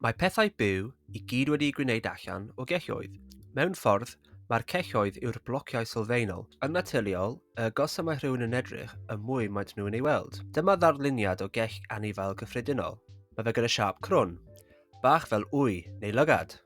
Mae pethau byw i gyd wedi'u gwneud allan o gelloedd. Mewn ffordd, mae'r celloedd yw'r blociau sylfaenol. Yn naturiol, y agosaf mae rhywun yn edrych, y mwy maent nhw'n ei weld. Dyma ddarluniad o gell anifail gyffredinol. Mae fe gyda siâp crwn. Bach fel wy, neu lygad.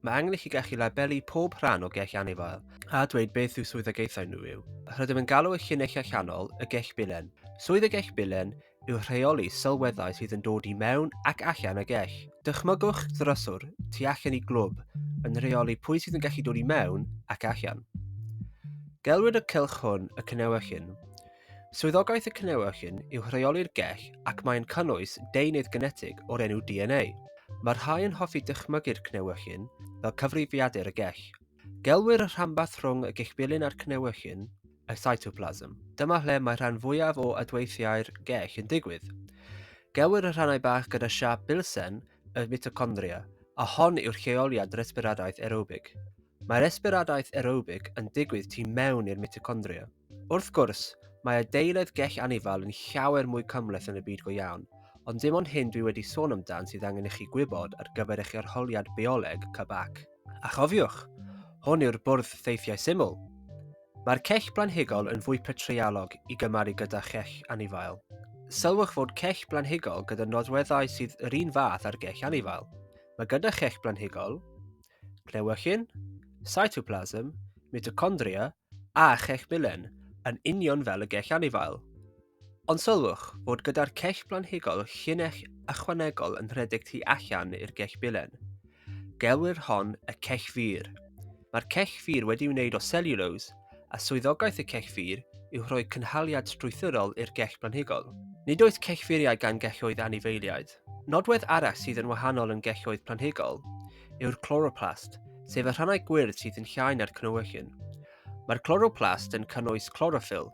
Mae angen i chi gallu labelu pob rhan o gell anifail a dweud beth yw swyddogaethau nhw yw. Rydym yn galw y llinellau allanol y gell bilen. Swydd y gell bilen yw rheoli sylweddau sydd yn dod i mewn ac allan y gell. Dychmygwch ddryswr tu allan i glwb yn rheoli pwy sydd yn gallu dod i mewn ac allan. Gelwyd y cylch hwn y cynewechyn. Swyddogaeth y cynewechyn yw rheoli'r gell ac mae'n cynnwys deunydd genetig o'r enw DNA. Mae'r rhai yn hoffi dychmygu'r cnewechyn fel cyfrifiadur y gell. Gelwir y rhanbarth rhwng y gellbilyn a'r cnewechyn y cytoplasm. Dyma lle mae rhan fwyaf o adweithiau'r gell yn digwydd. Gelwir y rhannau bach gyda siap bilsen y mitochondria, a hon yw'r lleoliad resbiradaeth aerobig. Mae resbiradaeth aerobig yn digwydd tu mewn i'r mitochondria. Wrth gwrs, mae adeiledd gell anifal yn llawer mwy cymhleth yn y byd go iawn, ond dim ond hyn dwi wedi sôn amdan sydd angen i chi gwybod ar gyfer eich arholiad bioleg, CBAC. A chofiwch, hwn yw'r bwrdd ffeithiau syml. Mae'r cell blanhigol yn fwy petreialog i gymaru gyda chell anifail. Sylwch fod cell blanhigol gyda nodweddau sydd yr un fath â'r gell anifail. Mae gyda chell blanhigol, cnewyllyn, cytoplasm, mitocondria a chell milen, yn union fel y gell anifail. Ond sylwch fod gyda'r cech blanhigol llinell ychwanegol yn rhedeg tu allan i'r gech bilen. Gelwir hon y cech fur. Mae'r cech fur wedi wneud o selulose, a swyddogaeth y cech fur yw rhoi cynhaliad strwythurol i'r gech blanhigol. Nid oes cech furiau gan gelloedd anifeiliaid. Nodwedd arall sydd yn wahanol yn gelloedd planhigol yw'r chloroplast, sef y rhannau gwyrdd sydd yn llai na'r cnewyllyn. Mae'r chloroplast yn cynnwys chloroffyl,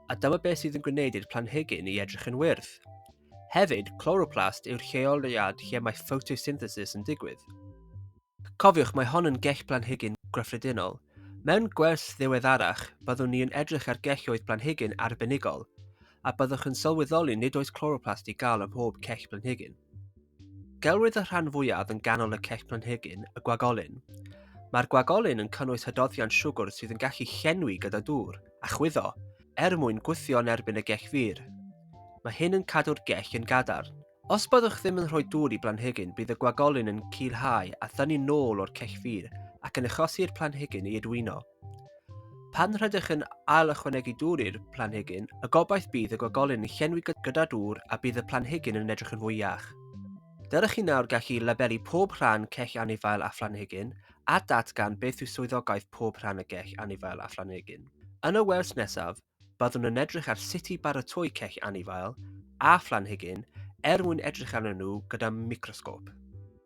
a dyma beth sydd yn gwneud i'r planhigyn i edrych yn wyrdd. Hefyd, chloroplast yw'r lleoliad lle mae photosynthesis yn digwydd. Cofiwch, mae hon yn gell planhigyn gyffredinol. Mewn gwers ddiweddarach, byddwn ni yn edrych ar gelloedd planhigyn arbenigol, a byddwch yn sylweddoli nid oes chloroplast i gael ym mhob cell planhigyn. Gelwid y rhan fwyaf yn ganol y cech planhigyn y gwagolyn. Mae'r gwagolyn yn cynnwys hydoddiant siwgr sydd yn gallu llenwi gyda dŵr a chwyddo er mwyn gwthio yn erbyn y gech fur. Mae hyn yn cadw'r gech yn gadarn. Os byddwch ddim yn rhoi dŵr i blanhigyn bydd y gwagolyn yn culhau a thynnu nôl o'r cech fur ac yn achosi i'r planhigyn ei adwyno. Pan rydych yn ail ychwanegu dŵr i'r planhigyn, y gobaith bydd y gogolyn yn llenwi gyda dŵr a bydd y planhigyn yn edrych yn fwy iach. Dylech chi nawr gallu labelu pob rhan cell anifail a phlanhigyn a datgan beth yw swyddogaeth pob rhan y gell anifail a phlanhigyn. Yn y wers nesaf, byddwn yn edrych ar sut i baratoi cell anifail a phlanhigyn er mwyn edrych arnyn nhw gyda microsgop.